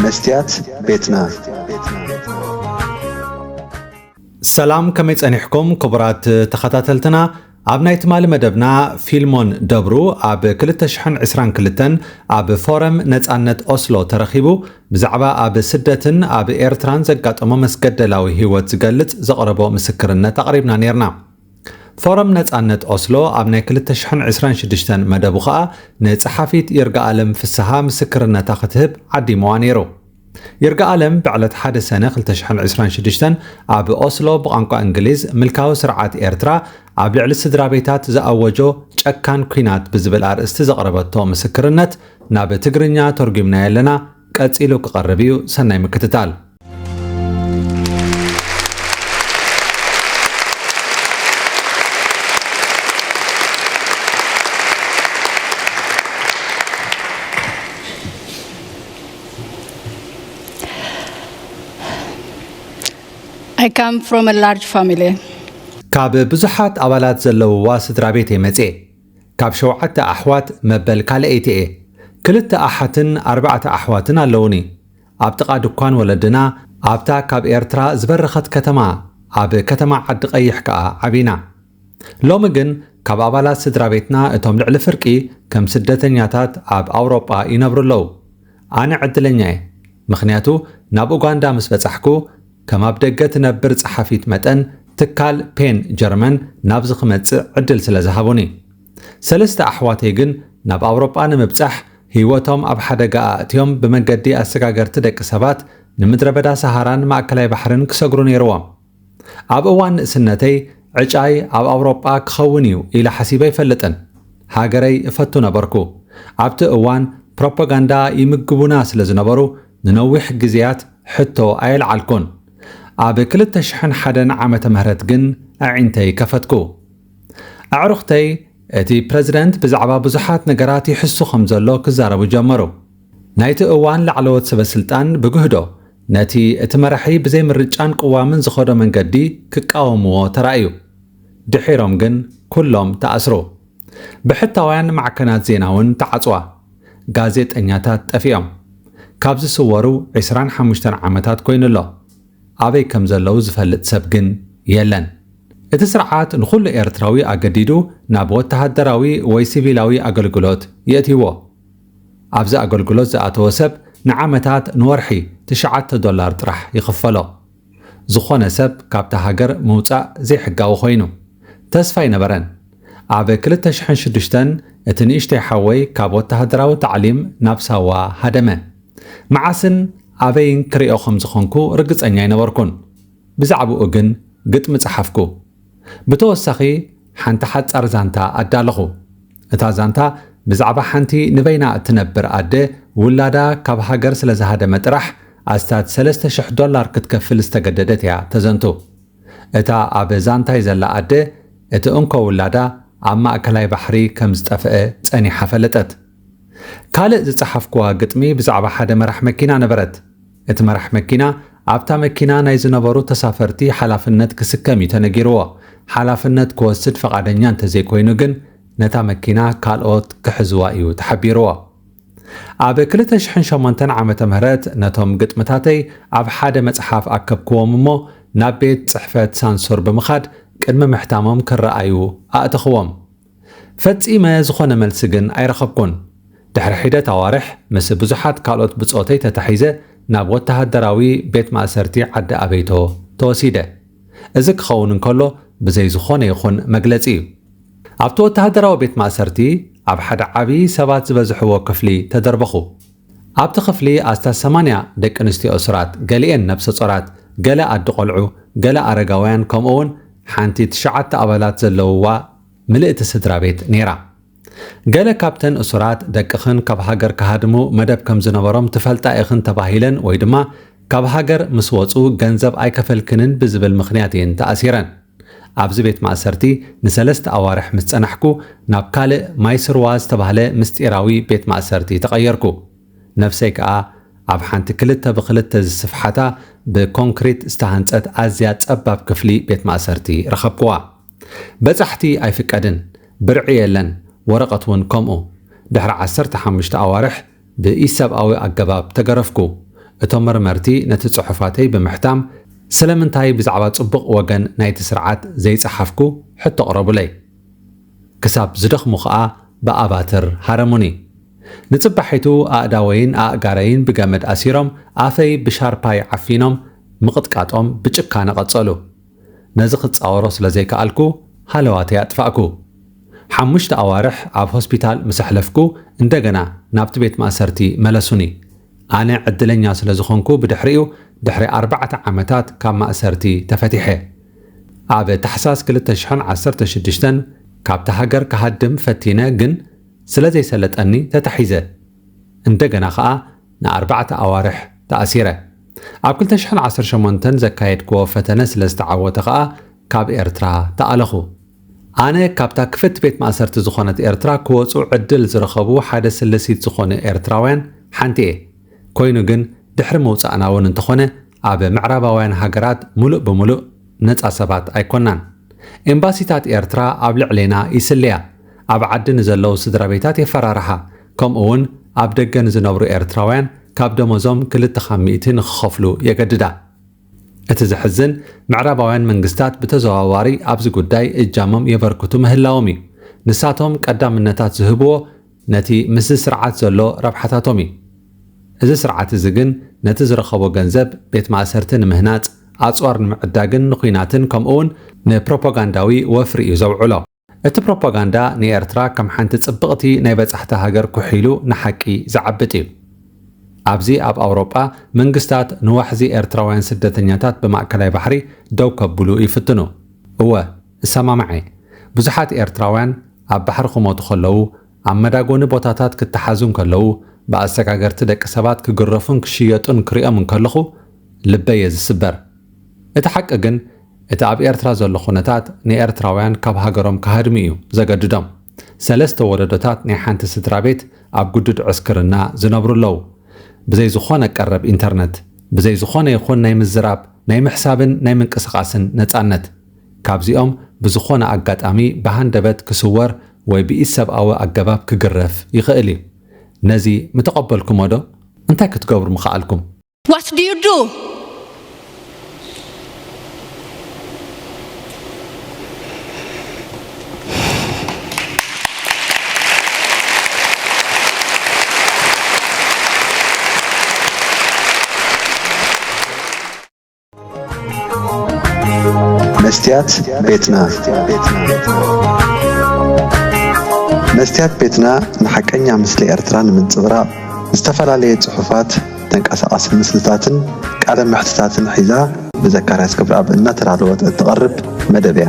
መስትያት ቤትና ሰላም ከመይ ጸኒሕኩም ክቡራት ተኸታተልትና ኣብ ናይ ትማሊ መደብና ፊልሞን ደብሩ ኣብ 222 ኣብ ፎረም ነፃነት ኦስሎ ተረኺቡ ብዛዕባ ኣብ ስደትን ኣብ ኤርትራን ዘጋጠሞ መስገደላዊ ህይወት ዝገልጽ ዘቕረቦ ምስክርነት ኣቕሪብና ነርና ፎረም ነጻነት ኦስሎ ኣብ ናይ ክልተ ሽሕን ዕስራን ሽዱሽተን መደቡ ከኣ ንጸሓፊት ይርጋኣለም ፍስሃ ምስክርነታ ክትህብ ዓዲምዋ ነይሩ። ይርጋኣለም ብዕለት ሓደ ሰነ ክልተ ሽሕን ዕስራን ሽዱሽተን ኣብ ኦስሎ ብቛንቋ እንግሊዝ ምልካዊ ስርዓት ኤርትራ ኣብ ልዕሊ ስድራቤታት ዝኣወጆ ጨካን ኲናት ብዝብል ኣርእስቲ ዘቕረበቶ ምስክርነት ናብ ትግርኛ ቶርጒምናዮ ኣለና ቀጺሉ ክቐርብ እዩ ሰናይ ምክትታል። I come from a large family. ካብ ብዙሓት ኣባላት ዘለውዋ ስድራቤት እየ መጽየ። ካብ ሸውዓተ ኣሕዋት መበል ካልኣይቲ እየ። ክልተ ኣሓትን ኣርባዕተ ኣሕዋትን ኣለዉኒ። ኣብ ጥቓ ድኳን ወለድና ኣብታ ካብ ኤርትራ ዝበረኸት ከተማ ኣብ ከተማ ዓዲቐይሕ ከኣ ዓቢና። ሎሚ ግን ካብ ኣባላት ስድራቤትና እቶም ልዕሊ ፍርቂ ከም ስደተኛታት ኣብ ኣውሮጳ ይነብሩ ኣለዉ። ኣነ ዕድለኛ'የ፣ ምኽንያቱ ናብ ኡጋንዳ ምስ በጻሕኩ ከም ኣብ ደገ ትነብር ጸሓፊት መጠን፣ ትካል ፔን ጀርመን ናብዚ ክመጽእ ዕድል ስለ ዝሃቡኒ። ሰለስተ ኣሕዋተይ ግን ናብ ኣውሮጳ ንምብጻሕ ህይወቶም ኣብ ሓደጋ ኣእትዮም ብመገዲ ኣሰጋገርቲ ደቂ ሰባት ንምድረበዳ ሰሃራን ማእከላይ ባሕርን ክሰግሩ ነይርዎም። ኣብ እዋን ንእስነተይ ዕጫይ ኣብ ኣውሮጳ ክኸውን እዩ ኢለ ሓሲበ ኣይፈልጥን። ሃገረይ እፈቱ ነበርኩ። ኣብቲ እዋን ፕሮፓጋንዳ ይምግቡና ስለ ዝነበሩ፣ ንነዊሕ ግዝያት ሕቶ ኣየልዓልኩን። ኣብ ክልተ ሽሕን ሓደን ዓመተ ምህረት ግን ኣዒንተይ ከፈትኩ። ኣዕሩኽተይ እቲ ፕረዚደንት ብዛዕባ ብዙሓት ነገራት ይሕሱ ከም ዘሎ ክዛረቡ ጀመሩ። ናይቲ እዋን ላዕለዎት ሰበስልጣን ብግህዶ ነቲ እቲ መራሒ ብዘይ ምርጫን ቅዋምን ዝኸዶ መንገዲ ክቃወምዎ ተራእዩ። ድሒሮም ግን ኩሎም ተኣስሩ። ብሕታውያን ማዕከናት ዜና'ውን ተዓጽዋ። ጋዜጠኛታት ጠፊኦም። ካብ ዝስወሩ ዕስራን ሓሙሽተን ዓመታት ኮይኑ ኣሎ። ኣበይ ከም ዘለዉ ዝፈልጥ ሰብ ግን የለን። እቲ ስርዓት ንኹሉ ኤርትራዊ ኣገዲዱ ናብ ወተሃደራዊ ወይ ሲቪላዊ ኣገልግሎት የእትይዎ። ኣብዚ ኣገልግሎት ዝኣተወ ሰብ ንዓመታት ንወርሒ ትሽዓተ ዶላር ጥራሕ ይኽፈሎ። ዝኾነ ሰብ ካብታ ሃገር ምውጻእ ዘይሕጋዊ ኮይኑ። ተስፋ ኣይነበረን። ኣብ ክልተ ሽሕን ሽዱሽተን እቲ ንእሽተይ ሓወይ ካብ ወተሃደራዊ ታዕሊም ናብ ሳዋ ሃደመ። መዓስን ኣበይን ክርእዮ ከም ዝኾንኩ ርግጸኛ ኣይነበርኩን። ብዛዕብኡ ግን ግጥሚ ጸሓፍኩ። ብተወሳኺ፣ ሓንቲ ሓጻር ዛንታ ኣዳለኹ። እታ ዛንታ ብዛዕባ ሓንቲ ንበይና እትነብር ኣደ ውላዳ ካብ ሃገር ስለ ዝሃደመ ጥራሕ ኣስታት ሰለስተ ሽሕ ዶላር ክትከፍል ዝተገደደት እያ ተዘንቱ። እታ ኣብ ዛንታይ ዘላ ኣደ እቲ እንኮ ውላዳ ኣብ ማእከላይ ባሕሪ ከም ዝጠፍአ ጸኒሓ ፈለጠት። ካልእ ዝጸሓፍኩዋ ግጥሚ ብዛዕባ ሓደ መራሕ መኪና ነበረት። እቲ መራሕ መኪና፣ ኣብታ መኪና ናይ ዝነበሩ ተሳፈርቲ ሓላፍነት ክስከም እዩ ተነጊርዎ። ሓላፍነት ክወስድ ፈቓደኛ እንተዘይኮይኑ ግን ነታ መኪና ካልኦት ክሕዝዋ እዩ ተሓቢርዎ። ኣብ ክልተ ሽሕን ሸሞንተን ዓመተ ምህረት ነቶም ግጥምታተይ ኣብ ሓደ መጽሓፍ ኣከብክዎም እሞ ናብ ቤት ጽሕፈት ሳንሱር ብምኻድ ቅድሚ ምሕታሞም ክረኣዩ ኣእተኽዎም። ፈጺመ ዝኾነ መልሲ ግን ኣይረኸብኩን። ድሕሪ ሒደት ኣዋርሕ ምስ ብዙሓት ካልኦት ብጾተይ ተታሒዘ ናብ ወተሃደራዊ ቤት ማእሰርቲ ዓዲ ኣበይቶ ተወሲደ። እዚ ክኸውን እንከሎ ብዘይ ዝኾነ ይኹን መግለጺ እዩ። ኣብቲ ወተሃደራዊ ቤት ማእሰርቲ ኣብ ሓደ ዓቢ ሰባት ዝበዝሕዎ ክፍሊ ተደርበኹ። ኣብቲ ክፍሊ ኣስታት ሰማንያ ደቂንስትዮ እሱራት፣ ገሊኤን ነብሰጾራት፣ ገለ ኣዲ ቆልዑ፣ ገለ ኣረጋውያን ከምኡ'ውን ሓንቲ ትሽዓተ ኣባላት ዘለውዋ ምልእቲ ስድራቤት ነይራ። ገለ ካብተን እሱራት ደቅኽን ካብ ሃገር ክሃድሙ መደብ ከም ዝነበሮም ትፈልጣ ኢኽን ተባሂለን ወይ ድማ ካብ ሃገር ምስ ወጹ ገንዘብ ኣይከፈልክንን ብዝብል ምኽንያት እየን ተኣሲረን። ኣብዚ ቤት ማእሰርቲ ንሰለስተ ኣዋርሕ ምስ ጸናሕኩ ናብ ካልእ ማይስርዋ ዝተባህለ ምስጢራዊ ቤት ማእሰርቲ ተቐየርኩ። ነፍሰይ ከኣ ኣብ ሓንቲ ክልተ ብኽልተ ዝስፍሓታ ብኮንክሪት ዝተሃንጸት ኣዝያ ጸባብ ክፍሊ ቤት ማእሰርቲ ረኸብኩዋ። በጻሕቲ ኣይፍቀድን፣ ብርዒ የለን፣ ወረቐት ውን ከምኡ። ድሕሪ ዓሰርተ ሓሙሽተ ኣዋርሕ ብኢሰብኣዊ ኣገባብ ተገረፍኩ። እቶም መርመርቲ ነቲ ጽሑፋተይ ብምሕታም ስለምንታይ ብዛዕባ ጽቡቕ ወገን ናይቲ ስርዓት ዘይጸሓፍኩ ሕቶ ኣቕረቡለይ። ክሳብ ዝደኽሙ ከኣ ብኣባትር ሃረሙኒ። ንጽባሒቱ ኣእዳወይን ኣእጋረይን ብገመድ ኣሲሮም ኣፈይ ብሻርፓይ ዓፊኖም ምቕጥቃጦም ብጭካነ ቀጸሉ። ነዚ ክጻወሮ ስለ ዘይከኣልኩ ሃለዋተይ ኣጥፋእኩ። ሓሙሽተ ኣዋርሕ ኣብ ሆስፒታል ምስ ኣሕለፍኩ እንደገና ናብቲ ቤት ማእሰርቲ መለሱኒ። ኣነ ዕድለኛ ስለ ዝኾንኩ ብድሕሪኡ ድሕሪ ኣርባዕተ ዓመታት ካብ ማእሰርቲ ተፈቲሐ። ኣብ ታሕሳስ ክልተ ሽሕን ዓሰርተ ሽዱሽተን ካብታ ሃገር ክሃድም ፈቲነ ግን ስለ ዘይሰለጠኒ ተታሒዘ። እንደገና ከኣ ንኣርባዕተ ኣዋርሕ ተኣሲረ። ኣብ ክልተ ሽሕን ዓሰርተ ሸሞንተን ዘካየድክዎ ፈተነ ስለ ዝተዓወተ ከኣ ካብ ኤርትራ ተኣለኹ። ኣነ ካብታ ክፍት ቤት ማእሰርቲ ዝኾነት ኤርትራ ክወጹ ዕድል ዝረኸቡ ሓደ ስለሲት ዝኾኑ ኤርትራውያን ሓንቲ'የ። ኮይኑ ግን ድሕሪ ምውጻእና'ውን እንተኾነ ኣብ ምዕራባውያን ሃገራት ምሉእ ብምሉእ ነጻ ሰባት ኣይኮናን። ኤምባሲታት ኤርትራ ኣብ ልዕሌና ይስልያ፣ ኣብ ዓዲ ንዘለዉ ስድራቤታት የፈራርሓ፣ ከምኡ'ውን ኣብ ደገ ንዝነብሩ ኤርትራውያን ካብ ደሞዞም ክልተ ካብ ሚእቲ ንኽኸፍሉ የገድዳ። እቲ ዘሕዝን፣ ምዕራባውያን መንግስታት ብተዘዋዋሪ ኣብዚ ጉዳይ እጃሞም የበርክቱ ምህላዎም እዩ። ንሳቶም ቀዳምነታት ዝህብዎ ነቲ ምስዚ ስርዓት ዘሎ ረብሓታቶም እዩ። እዚ ስርዓት እዚ ግን ነቲ ዝረኸቦ ገንዘብ ቤት ማእሰርቲ ንምህናጽ፣ ኣጽዋር ንምዕዳግን ንዂናትን ከምኡውን ንፕሮፓጋንዳዊ ወፍሪ እዩ ዘውዕሎ። እቲ ፕሮፓጋንዳ ንኤርትራ ከም ሓንቲ ጽብቕቲ ናይ በጻሕቲ ሃገር ኩሒሉ ንሓቂ ዝዓብጥ እዩ። ኣብዚ ኣብ ኣውሮጳ መንግስታት ንዋሕዚ ኤርትራውያን ስደተኛታት ብማእከላይ ባሕሪ ደው ከብሉ ይፍትኑ። እወ! እሰማማዕ እየ ብዙሓት ኤርትራውያን ኣብ ባሕሪ ክሞቱ ከለዉ ኣብ መዳጎኒ ቦታታት ክተሓዙ እንከለዉ ብኣሰጋገርቲ ደቂ ሰባት ክግረፉን ክሽየጡን ክሪኦም እንከለኹ ልበይ እየ ዝስበር እቲ ሓቂ ግን እቲ ኣብ ኤርትራ ዘሎ ኩነታት ንኤርትራውያን ካብ ሃገሮም ክሃድሙ እዩ ዘገድዶም ሰለስተ ወለዶታት ናይ ሓንቲ ስድራቤት ኣብ ግዱድ ዕስክርና ዝነብሩ ኣለዉ ብዘይ ዝኾነ ቀረብ ኢንተርነት ብዘይ ዝኾነ ይኹን ናይ ምዝራብ ናይ ምሕሳብን ናይ ምንቅስቃስን ነጻነት ካብዚኦም ብዝኾነ ኣጋጣሚ ብሃንደበት ክስወር ወይ ብኢሰብኣዊ ኣገባብ ክግረፍ ይኽእል እዩ። ነዚ ምተቐበልኩሞዶ? እንታይ ክትገብሩ ምኸኣልኩም? What do you do? መስትያት ቤትና መስትያት ቤትና ንሓቀኛ ምስሊ ኤርትራ ንምንጽብራቕ ዝተፈላለየ ጽሑፋት፣ ተንቀሳቓሲ ምስልታትን ቃለ መሕትታትን ሒዛ ብዘካርያስ ክብረኣብ እናተዳለወት እትቐርብ መደብ እያ።